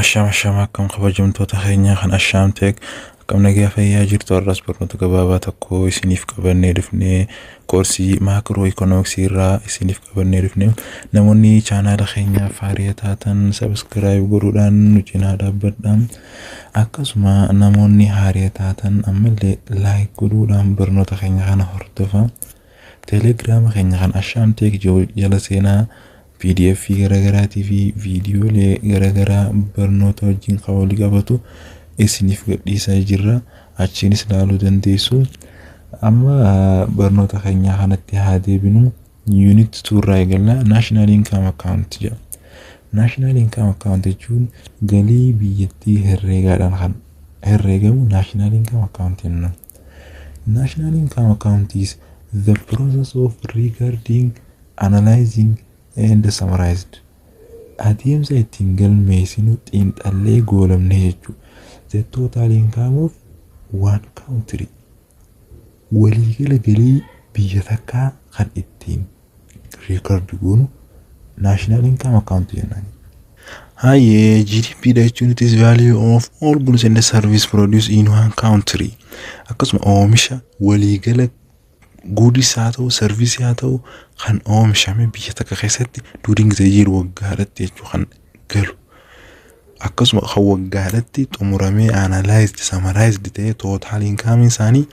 Ashama Ashama akkam kabajamtoota keenyaa kan Ashaam Teek akkam nagaa fayyaa jirtu har'as barnoota gabaabaa tokko isiniif qabannee dhufnee koorsii maakroo ikoonomiksii irraa isiniif qabannee dhufne namoonni chaanaala keenyaa faariya taatan sabiskiraayib godhuudhaan nu cinaa dhaabbadha akkasuma namoonni haariya taatan ammallee laayik godhuudhaan barnoota keenya kana hordofa teelegiraama keenya kan Ashaam Teek jala seenaa pdf garaagaraatii fi viidiyoolee garaagaraa barnoota wajjin kan wal qabatu isiniif gadhiisaa jirra achiinis ilaaluu dandeessu amma barnoota keenyaa kanatti haa deebinu yuunit tuurraa eegalla naashinaal inkaam akkaawunti jedha naashinaal inkaam akkaawunti jechuun galii biyyattii herreegaadhaan kan herreegamu naashinaal inkaam akkaawunti jenna naashinaal inkaam akkaawuntiis the process of regarding Analyzing and summarized Adeemsa ittiin galmeessinu xiinxallee goolabne jechuudha. The total income of one country waliigala galii biyya takkaa kan ittiin reekardi goonu national income account jennaan. Hayyee GDP dha jechuun it is value of all goods and service produced in one country akkasuma oomisha waliigala Guudis haa ta'u, sarvisii haa ta'u kan oomishame biyya takka keessatti during the year waggaadhatti jechuu kan galu. Akkasuma kan waggaadhatti xumuramee analyzed, summarized ta'ee total income isaanii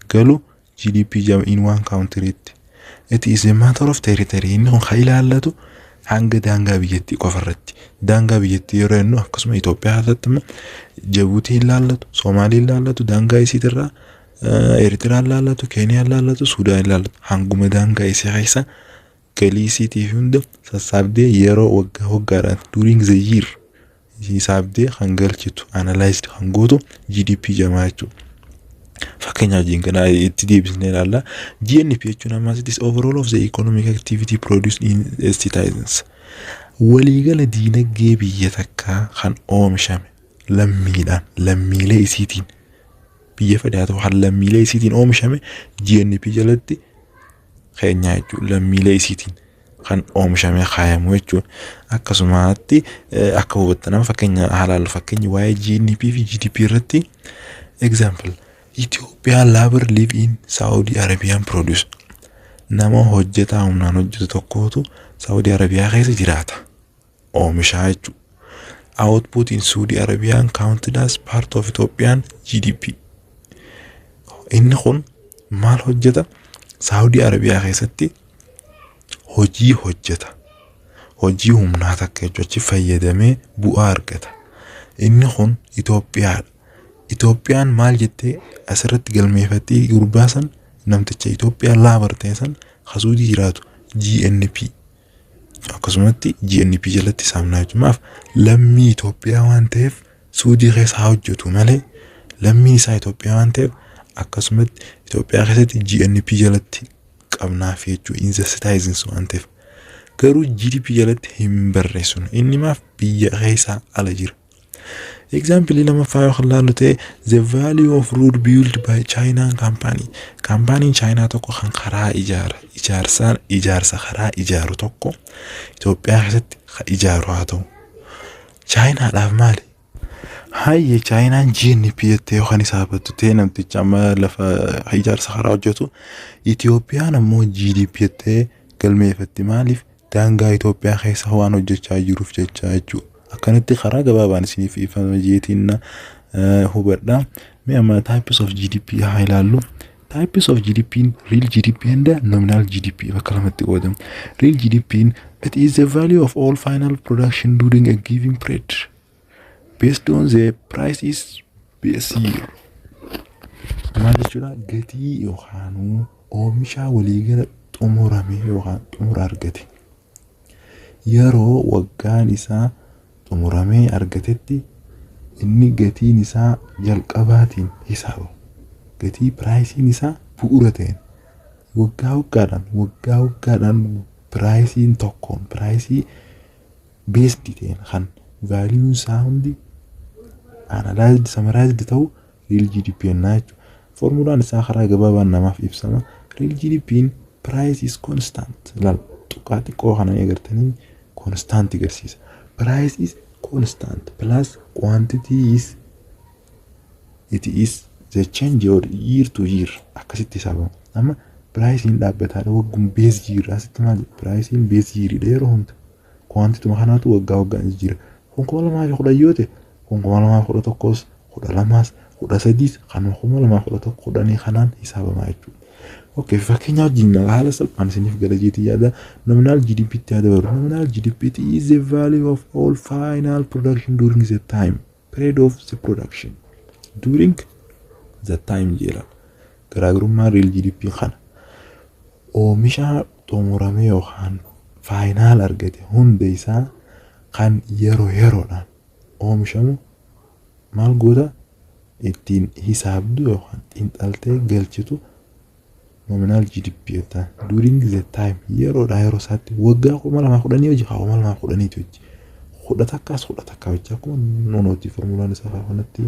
galu GDP jama in one country tti. It is a matter of territory. Inni kun kan ilaallatu hanga daangaa biyyattii qofa irratti. Daangaa biyyattii yeroo jennu akkasuma Itoophiyaa keessatti immoo Jabuutii ilaallatu, Soomaalii ilaallatu, daangaa isiitirraa Eertiraan laallatu, Keeniyaan laallatu, Suudaan laallatu hanguma daangaa isii keessa galii isiitii fi hunda sassaabdee yeroo waggaa waggaadhaan during the year hisaabdee kan galchitu analyzed kan gootu GDP jamaa jechuudha. Fakkeenyaaf jiin kana itti deebisnee ilaalla. GNP jechuun ammas it is overall of the economic activity produced in a citizens. Waliigala diinagdee biyya takkaa kan oomishame lammiidhaan lammiilee isiitiin biyya fedhaa ta'u kan lammiilee isiitiin oomishame GNP jalatti keenyaa jechuun lammiilee isiitiin kan oomishame kaayamu jechuun akkasumatti akka hubattanaaf fakkeenya haalaallu fakkeenyi waa'ee GNP fi GDP irratti example Ethiopia labor live in Saudi Arabian produce nama hojjetaa humnaan hojjetu tokkootu Saudi Arabiyaa keessa jiraata. oomishaa jechuudha. Output in Saudi Arabian counted as part of Ethiopian GDP. Inni kun maal hojjeta? Saudi Arabiyaa keessatti hojii hojjeta. Hojii humnaa takka jechuudha. Achi fayyadamee bu'aa argata. Inni kun Itoophiyaadha. Itoophiyaan maal jettee asirratti galmeeffattee gurbaa san namticha Itoophiyaa laabar ta'e san hasuudii jiraatu GNP. akkasumatti GNP jalatti saamnaa jimaaf lammii Itoophiyaa waan ta'eef suudii keessa haa hojjetu malee lammiin isaa Itoophiyaa waan ta'eef akkasumatti Itoophiyaa keessatti GNP jalatti qabnaaf jechuu in the citizens waan ta'eef garuu GDP jalatti hin barreessinu inni maaf biyya keessaa ala jira. Egzaampilii lamaffaa yoo kan laallu ta'e the value of road built by Chinaan kaampaanii. Kaampaaniin Chaayinaa tokko kan karaa ijaara ijaarsaan ijaarsa karaa ijaaru tokko Itoophiyaa keessatti kan ijaaru haa ta'u. Chaayinaadhaaf maali? Hayyee Chaayinaan GNP jettee yookaan isaa battu ta'e namticha amma lafa ijaarsa karaa hojjetu Itoophiyaan ammoo GDP jettee galmeeffatti maaliif? Daangaa Itoophiyaa keessa waan hojjechaa jiruuf jecha jechuu akkanatti karaa gabaabaan isiniif ifame jeetiin na hubadha. Mee amma types of GDP haa ilaallu. Types of GDP real GDP and nominal GDP bakka lamatti qoodamu. Real GDP it is the value of all final production during a given period. Based on the prices based maal jechuudha gatii yookaan oomishaa waliigala xumurame yookaan xumura argate yeroo waggaan isaa xumuramee argatetti inni gatiin isaa jalqabaatiin hisaaba gatii piraayisiin isaa bu'uura ta'een waggaa waggaadhaan waggaa waggaadhaan piraayisiin tokkoon piraayisii based ta'een kan value isaa hundi analyzed summarized ta'u real GDP ennaa jechuudha. Formulaan isaa karaa gabaabaan namaaf ibsama. Real GDP'n price is constant. Lal tuqaa xiqqoo kana ni agartanii constant agarsiisa. Price is constant plus quantity is it is the change year to year akkasitti hisaabama. Amma piraayisiin dhaabbataa waggum bees jiirraa sitti maal piraayisiin bees jiiridha yeroo hunda. Kuwaantituma kanaatu waggaa waggaan jijjiira. Kun kuma lamaa fi kudhan yoo ta'e kun kuma lamaa fi kudha tokkos kudha lamaas kudha sadiis kanuma kuma lamaa fi kudha tokko kudhanii kanaan hisaabamaa jechuudha. Okay, fakkeenyaa wajjin haala salphaan isiniif gala jeetii yaada nominal GDP tti haa dabalu. Nominal GDP is the value of all final production during the time. period of the production during the time jedha garaagarummaa real GDP kana oomisha xumurame yookaan faayinaal argate hunda isaa kan yeroo yeroodhaan oomishamu maal goota ittiin hisaabdu yookaan xiinxaltee galchitu nominal GDP jettaan during the time yeroodha yeroo isaatti waggaa kuma lamaa kudhanii hojii haa kuma lamaa kudhaniitu hojii kudha takkaas kudha takkaa hojii akkuma nonooti formulaan isaa haa kanatti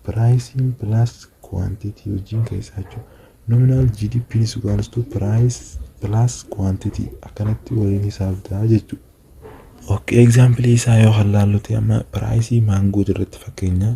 piraayisiin pilaas kuwaantitii hojiin keessaa jechuudha nominal GDP ni sugaalistu piraayis pilaas kuwaantitii akkanatti waliin hisaabdaa jechuudha. Ok, egzaampilii isaa yoo kan laalluti amma piraayisii maangoo irratti fakkeenyaa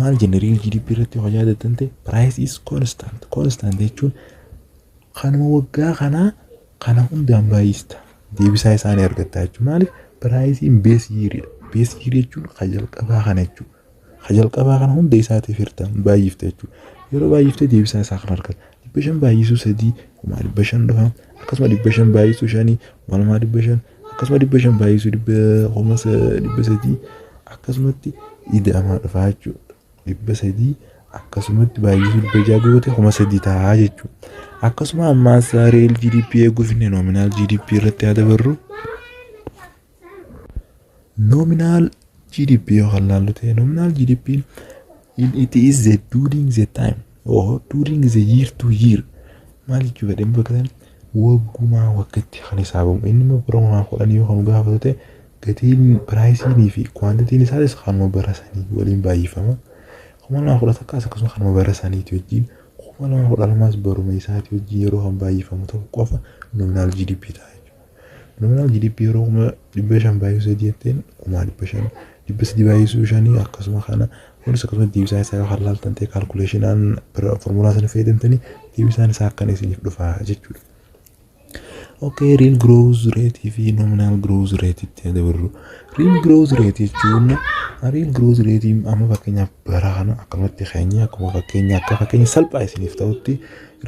maal jenna real GDP irratti yoo yaadatan ta'e price is constant constant jechuun kanuma waggaa kanaa kana hundaan baay'ista deebisaa isaanii argattaa jechuudha maaliif piraayisiin bees yiiriidha bees yiirii jechuun ka jalqabaa kana jechuudha ka jalqabaa kana hunda isaatiif hirta baay'ifta jechuudha yeroo baay'iftee deebisaa isaa kan argata dhibba shan baay'isuu sadii kumaa dhibba shan dhufa akkasuma dhibba shan baay'isuu shanii kumaa lamaa dhibba shan akkasuma dhibba shan baay'isuu dhibba kuma dhibba sadii akkasumatti ida'amaa dhufaa jechuudha. Dhibba sadii akkasumatti baay'isuu dhibba ja'a goote kuma sadii ta'a jechuudha. Akkasuma ammaas real GDP eeguuf inni nominal GDP irratti haa dabarru. Nominal GDP yoo kan laallu ta'e nominal GDP it is the during the time or during the year to year maal jechuu fedhe bakka sana waggumaa waggatti kan hisaabamu inni immoo bara kumaa kudhan yoo kan gaafatu ta'e gatiin piraayisiinii fi kwaantitiin isaatis kanuma bara sanii waliin baay'ifama kuma lama kudha takkaas akkasuma kanuma bara saniiti wajjin kuma lama kudha lamaas baruma isaati wajjin yeroo kan baay'ifamu ta'u qofa nominal GDP ta'a. Nominal GDP yeroo kuma dhibba shan baay'isuu sadii jetteen kuma dhibba shan dhibba sadii baay'isuu shanii akkasuma kana kunis akkasuma deebisaa isaa yoo kan laaltan ta'e kaalkuleeshinaan formulaa sana fayyadamtanii deebisaan isaa akkana isiniif dhufa jechuudha. Okay, real growth rate fi nominal growth rate itti dabarru. Real growth rate jechuun real growth rate amma fakkeenyaaf bara kana akkanumatti keenya akkuma fakkeenya akka fakkeenya salphaa isiniif ta'utti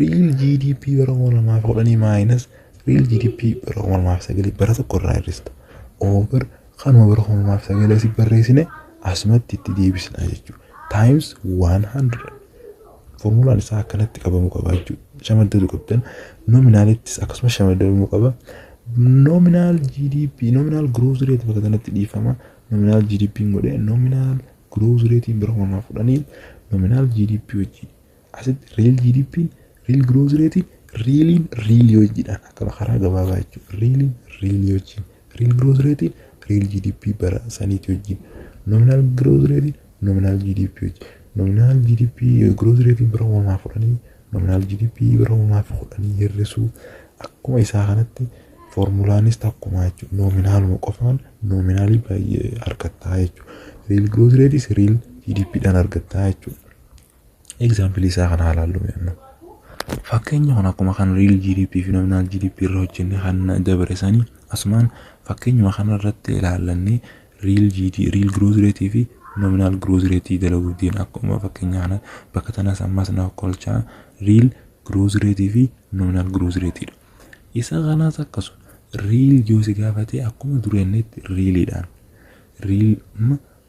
real GDP bara kuma lamaa fi kudhanii maayinas Real GDP bara 2009 bara tokko irraa hir'ista. Over kanuma bara 2009 asii barreessine asumatti itti deebisna jechuudha. Times 100. Formulaan isaa akkanatti qabamuu qaba jechuudha. Shamaddatu qabdan. Nominaalittis akkasuma shamaddamuu qaba. Nominaal GDP, nominaal growth rate bakka kanatti dhiifama. Nominaal GDP godhee nominaal growth rate bara 2010 nominaal GDP wajjin Asitti riil GDP'n, riil growth rate, riiliin riilii hojiidhaan akkama karaa gabaabaa jechuudha. Riiliin riilii hojii, riil growth rate, riil GDP bara saniitii hojii, nominal growth rate, nominal GDP hojii, nominal GDP growth rate bara kuma lamaa fi kudhanii, nominal GDP bara kuma lamaa fi kudhanii hir'isuu akkuma isaa kanatti foormulaanis takkuma jechuudha. Noominaaluma qofaan noominaalii baay'ee argattaa jechuudha. Riil growth rate, riil GDP dhaan argattaa jechuudha. Egzaampilii isaa kana haalaallu mi'anna. Fakkeenya kun akkuma kan riil GDP fi nominaal GDP irra hojjenne kan dabre sanii asumaan fakkeenyuma kana irratti ilaallannee riil GD riil growth rate fi nominaal growth rate dalaguu deemna akkuma fakkeenya kana bakka tanas ammas na kolchaa riil growth rate fi nominaal growth rate dha. Isa kanas akkasuma riil yoo si gaafate akkuma durennetti riiliidhaan riil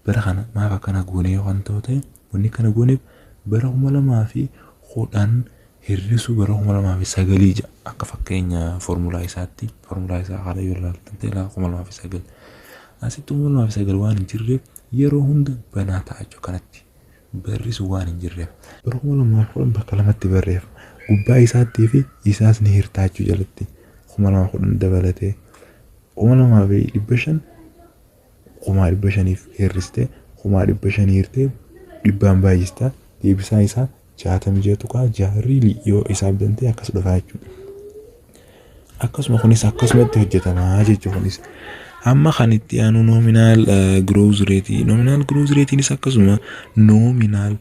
Bara kana maaf akkana goone yoo kan ta'u ta'e wanni kana gooneef bara kuma lamaa fi kudhan hir'isuu bara kuma lamaa fi sagalii ja'a akka fakkeenya foormulaa isaatti foormulaa isaa haala yoo ilaaltan ta'e lafa kuma lamaa fi sagal asitti kuma lamaa fi sagal waan hin jirreef yeroo hunda banaa ta'a jechuudha kanatti barri sun waan hin jirreef bara kuma lamaa fi kudhan bakka lamatti barreef gubbaa isaattii fi isaas ni hirtaa jechuu jalatti kuma lamaa fi kudhan dabalatee kuma lamaa fi dhibba shan kumaa dhibba shaniif hir'iste kumaa dhibba shanii hirtee dhibbaan baay'ista deebisaa isaa jaatamii ja'a tuqaa ja'a riilii yoo isaaf dantee akkas dhufaa jechuudha. Akkasuma kunis akkasumatti hojjetamaa jechuudha kunis. Amma kan itti aanu nominaal growth rate nominaal growth ratenis akkasuma nominaal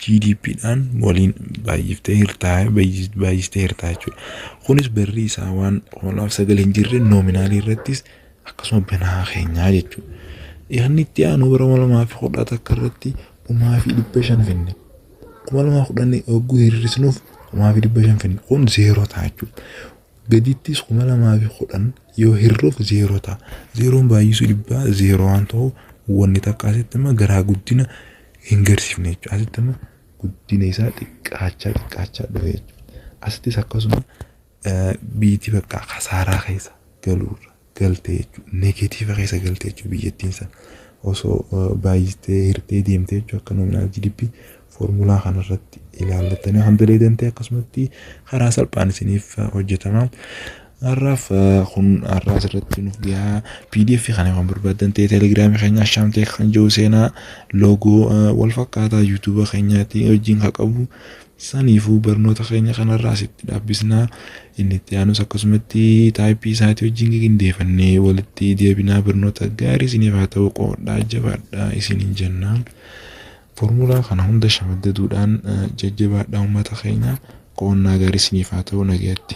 GDP dhaan waliin baay'iftee hirtaa baay'istee hirtaa jechuudha. Kunis barri isaa waan hoolaaf sagal hin jirre noominaalii irrattis akkasuma banaa keenyaa jechuudha. Yaadni itti aanu bara kuma lamaa fi kudha takka irratti kumaa fi dhibba shan finne. Kuma lamaa kudhan hogguu hir'isnuuf kumaa fi dhibba shan finne. Kun zeeroo ta'a jechuudha. gadittis 2010 yoo hir'uuf zeeroo ta'a. Zeeroon baay'isuu dhibbaa zeeroo waan ta'u wanni takka asitti amma garaa guddina hin garsiifne jechuudha. Asitti amma guddina isaa xiqqaachaa xiqqaachaa dhufe jechuudha. Asittis akkasuma biitii bakka kasaaraa keessa galuurra. galte jechuudha. Negeetiiva keessa galte jechuudha biyyattiin san. Osoo baay'istee hirtee deemtee jechuudha akka nominaal GDP foormulaa kanarratti ilaallattanii kan daleedan ta'e akkasumatti karaa salphaan isiniif hojjetama. Har'aaf kun har'aa asirratti nuuf gahaa PDF kana kan barbaadan ta'e telegiraamii keenya Ashaam Teek kan jiru seenaa loogoo wal fakkaataa yuutuuba keenyaatiin wajjin kan qabu Saniifuu barnoota keenya kanarraa asitti dhaabbisna. Inni itti aanus akkasumatti taayippii isaatii wajjin gigindeefannee walitti deebinaa barnoota gaarii isiniif haa ta'u qoodhaa jabaadhaa isiniin jenna. Formulaa kana hunda shamaddaduudhaan jajjabaadhaa uummata keenya qo'annaa gaarii isiniif haa ta'u nagayatti.